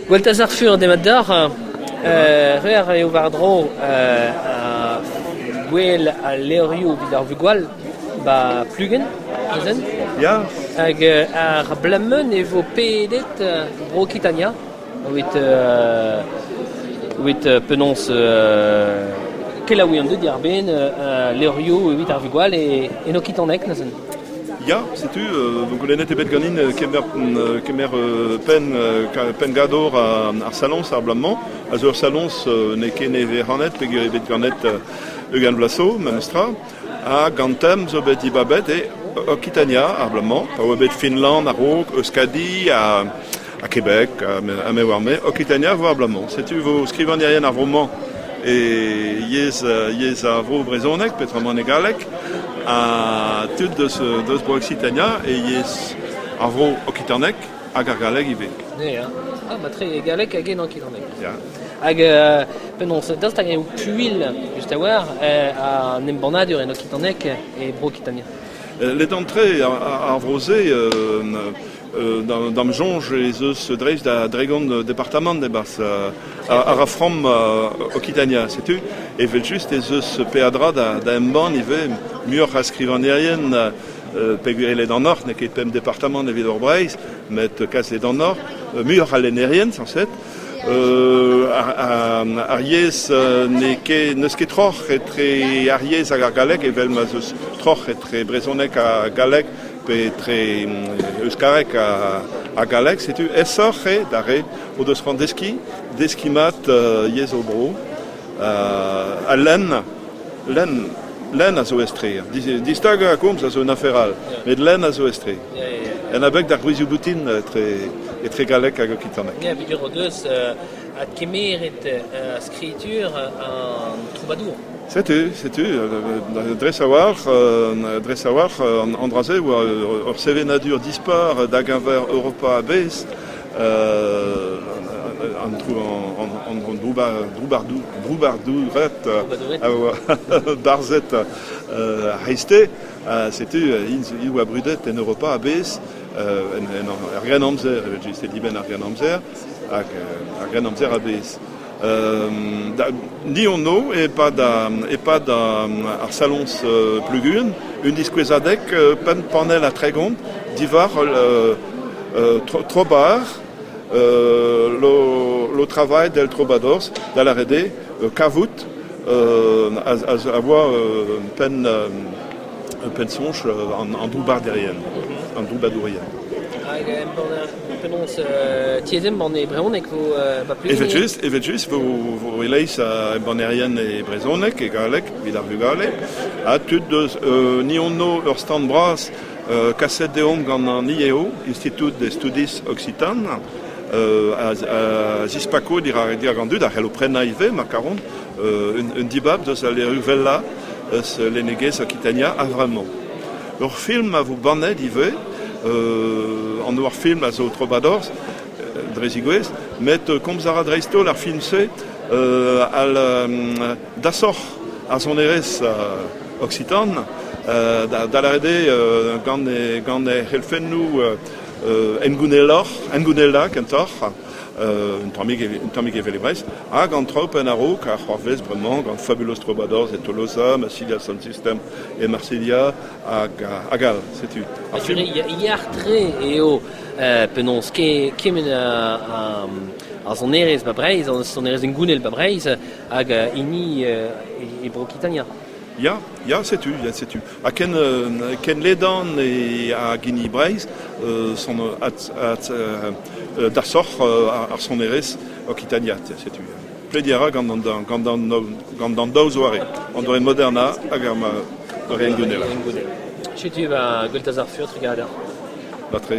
Gweltaz ar Fur, demat deoc'h. re a rae eo war-dro gwel al levrioù evit ar vugale 'ba Pluguen, azen. Ya. Hag ar Blameun e vo pedet Bro-Kitania, evit evit penaos kelaouiñ an dud diàr-benn levrioù evit ar vugale en okitaneg, azen. Ya, setu, vo goulennet ebet ganin kemer, kemer penn, penngador ar saloñs ar bloaz-mañ, a zo ur saloñs n'eo ket nevez-rannet pegwir ebet ganet ugent bloaz zo, memestra, hag an tem zo bet dibabet e Okitania ar bloaz-mañ, pa oa bet Finland a-raok, Euskadi ha ha Québec, ha me war-me, Okitania vo abalamour. Setu vo skrivagnerien ar vro-mañ e yezh, yezh ar vro brezhonek, petrament e galleg, ha tud deus, deus Bro-Occitania e yezh ar vro okitanek hag ar galleg ivez. Yeah. Ah, matre e galleg hag en okitanek. Yeah. Hag euh, penaos, daoust hag eo puilh just a-walc'h euh, an embannadur en okitanek e Bro-Okitania euh, Les dents de trait, ar, ar vro-se, euh, D'am soñj ez eus dreist da Dregon departamant e-barzh a ra from Okitania. Setu evel-just ez eus peadra da embann ivez muioc'h a skrivagnerien peget ledanoc'h, n'eo ket pemp departamant evit Hor Breizh, met kas ledanoc'h, muioc'h a lennerien, sañset. ar yezh n'eus ket troc'h etre ar yezh hag ar galleg, evel ma 'z eus troc'h etre brezhoneg ha galleg, pe etre euskareg ha galleg, setu aesoc'h eo d'ar re o deus c'hoant deskiñ, deskiñ mat yezh o bro. ha lenn, lenn, lenn a zo etre. Distagañ a komz a zo un afer all, met lenn a zo etre. En abeg d'ar gwrizioù boutin etre, etre galleg hag okitaneg. Ya, peger o deus adkemeret skritur an troubadour. Setu, setu, dres a-walc'h, dres a-walc'h, an dra-se oa ur sevenadur dispar da-geñver Europa a-bezh, an droubardoured a oa barzhet a-c'heizte, setu int oa brudet en Europa a-bezh, er Grennamzer, evel-just, e dibenn ar Grennamzer, hag ar Grennamzer a-bezh. Ni anv e-pad e-pad ar saloñs Pluguin, un diskouezadeg pemp panell ha tregont diwar Trobar, le travail del Troubadours, da lâret eo kavout a voa penn-soñj an droubbadourien. Penaos tiez embann e brezhoneg vo papeet Evel-just, evel-just vo, vo e-leizh a embannerien e brezhoneg, e galleg, evit ar vugale, ha tud deus euh, ni ono ur stand bras euh, kaset deomp gant an IEO, Institut des Studis Occitanes, euh, a, zispako dirak an dud a c'hello prenañ ivez, ma karont, un, un dibab deus al leru vella eus lennegezh Okitania a-vremañ. Ur film a vo bannet ivez, an ur film a zo Trobadorzh, dre zigouez, met komz a ra dreist-holl ar film-se al dasoc'h ar sonerezh oksitan, da lâret eo gant he c'helfennoù hengouneloc'h, hengounelañ kentoc'h, un tammig evel e Brest, hag an tropenn a-raok a c'hoarvez bremañ gant Fabulos Trobadorzh e Tolosa, Massilia Sound System e Marselha hag all. Setu. Yar-tre eo penaos kemenn ar sonerezh ba Breizh, an sonerezh hengounel ba Breizh hag hini e Bro-Kitania. Ya, ya, setu, ya, setu. Ha ken, ken ledan e, hag hini Breizh euh, son at, at, euh, dasoc'h ar sonerezh Okitania, setu. Plediñ a ra gant an daou zoare, an doare modernañ hag ar doare hengounel. Setu va gweltaz ar furtr gader. Batre.